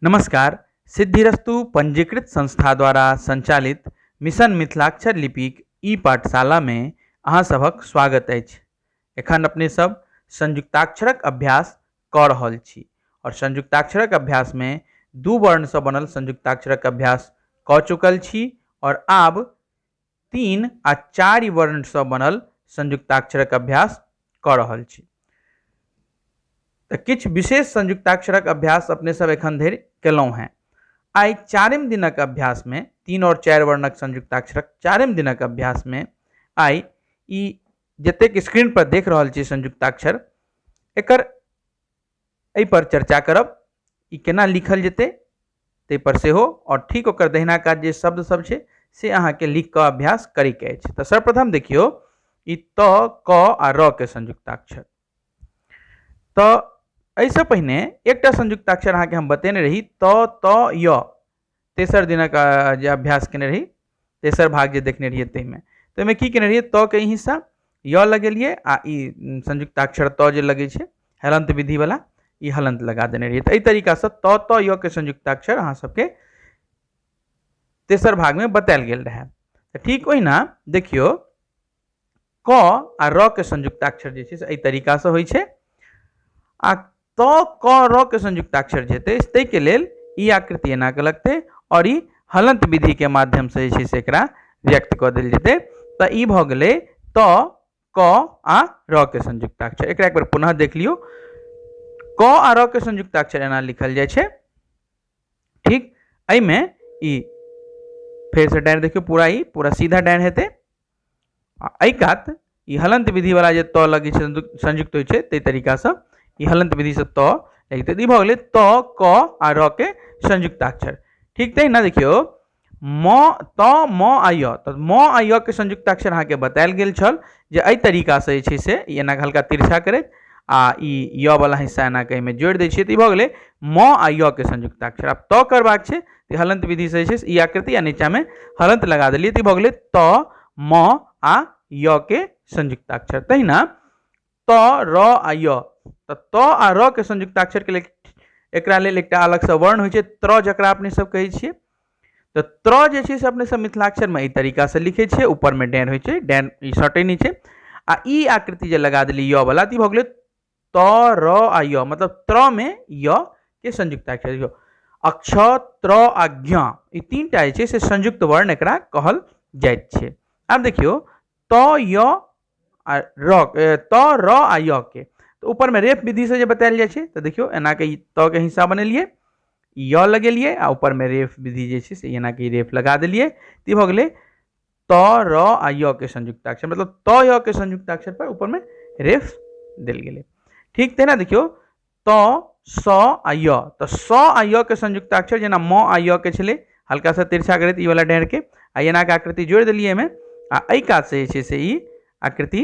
नमस्कार सिद्धिरस्तु पंजीकृत संस्था द्वारा संचालित मिशन मिथिलाक्षर लिपिक ई पाठशालामे अहाँ सभक स्वागत अछि एखन अपने सब संयुक्ताक्षरक अभ्यास कऽ रहल छी आओर संयुक्ताक्षरक अभ्यासमे दू वर्णसँ बनल संयुक्ताक्षरक अभ्यास कऽ चुकल छी आओर आब तीन आ चारि वर्णसँ बनल संयुक्ताक्षरक अभ्यास कऽ रहल छी तऽ किछु विशेष संयुक्ताक्षरक अभ्यास अपने सब एखन धरि केलहुँ हेँ आइ चारिम दिनक अभ्यासमे तीन आओर चारि वर्णक संयुक्ताक्षरक चारिम दिनक अभ्यासमे आइ ई जतेक स्क्रीनपर देख रहल छी संयुक्ताक्षर एकर एहिपर चर्चा करब ई केना लिखल जेतै ताहिपर सेहो आओर ठीक ओकर दहिना काज जे शब्द सब छै से अहाँके लिख कऽ अभ्यास करैके अछि तऽ सर्वप्रथम देखियौ ई त क आ र के संयुक्ताक्षर तऽ एहिसँ पहिने एकटा संयुक्ताक्षर अहाँके हम बतेने रही त त य तेसर दिनक जे अभ्यास केने रही तेसर भाग जे देखने रहियै ताहिमे तऽ ओहिमे की केने रहियै त के ई हिस्सा य लगेलियै आ ई संयुक्ताक्षर त जे लगै छै हलन्त विधिवला ई हलन्त लगा देने रहियै तऽ एहि तरीकासँ त त य के संयुक्ताक्षर अहाँ सबके तेसर भागमे बतायल गेल रहए तऽ ठीक ओहिना देखियौ क आ र के संयुक्ताक्षर जे छै से एहि तरीकासँ होइ छै आ त क र के संयुक्ताक्षर जे हेतै ताहिके लेल ई आकृति एना के लगतै आओर ई हलंत विधि के माध्यम से जे छै से एकरा व्यक्त कऽ देल जेतै तऽ ई भऽ गेलै त क आ र के संयुक्ताक्षर एकरा एक बेर पुनः देख लियौ क आ र के संयुक्ताक्षर एना लिखल जाइ छै ठीक एहिमे ई फेरसँ डाँड़ि देखियौ पूरा ई पूरा सीधा डाँड़ि हेतै आ एहि कात ई हलन्त विधिवला जे त लगै छै संयुक्त होइ छै ताहि तरीकासँ ई हलन्त विधिसँ त लगतै तऽ ई भऽ गेलै त क आ र के संयुक्ताक्षर ठीक तहिना देखियौ म त म आ य तऽ म आ य के संयुक्ताक्षर अहाँके बतायल गेल छल जे एहि तरीकासँ जे छै से ई एना हल्का तिरछा करैत आ ई य वला हिस्सा एना कऽ एहिमे जोड़ि दै छियै तऽ ई भऽ गेलै म आ य के संयुक्ताक्षर आब त करबाक छै तऽ हलन्त विधिसँ जे छै से ई आकृति आ नीचाँमे हलन्त लगा देलियै तऽ ई भऽ गेलै त म आ य के संयुक्ताक्षर तहिना त र आ य तऽ त आ र के संयुक्ताक्षरके लेल एकरा लेल एकटा अलगसँ वर्ण होइ छै त्र जकरा अपने सब कहै छियै तऽ त्र जे छै से अपने सब मिथिलाक्षरमे एहि तरीकासँ लिखै छियै ऊपरमे डैन होइ छै डैन ई सटै नहि छै आ ई आकृति जे लगा देलियै य वला तऽ ई भऽ गेलै त र आ य मतलब त्र में य के संयुक्त अक्षर यो अक्ष त्र आ ज्ञ ई तीन टा जे छै से संयुक्त वर्ण एकरा कहल जाइत छै आब देखियौ त य आ र त र आ य के तऽ ऊपरमे रेप विधिसँ जे बतायल जाइ छै तऽ देखियौ एनाके ई त के हिस्सा बनेलियै य लगेलियै आ ऊपरमे रेफ विधि जे छै से एनाके ई रेफ लगा देलियै तऽ ई भऽ गेलै त र आ य के संयुक्ताक्षर मतलब त य के संयुक्ताक्षर पर ऊपर में रेफ दिल गए ठीक तेना देखियो त स आ य तो स आ य के संयुक्ताक्षर जेना म आ य के छले हल्का सा तिरछा करैत ई वाला डाँड़ के आ एना के आकृति जोड़ दिलिए में आ एहि कात से जे छै से ई आकृति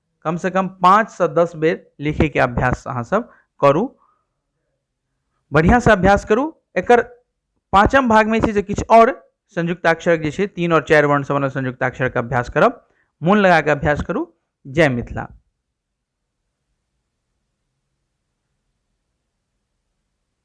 कमसँ कम पाँचसँ दस बेर लिखैके अभ्यास अहाँसभ करू बढ़िआँसँ अभ्यास करू एकर पाँचम भागमे छै जे किछु आओर संयुक्ताक्षरक जे छै तीन आओर चारि वर्णसँ बनल संयुक्ताक्षरके अभ्यास करब मोन लगा कऽ अभ्यास करू जय मिथिला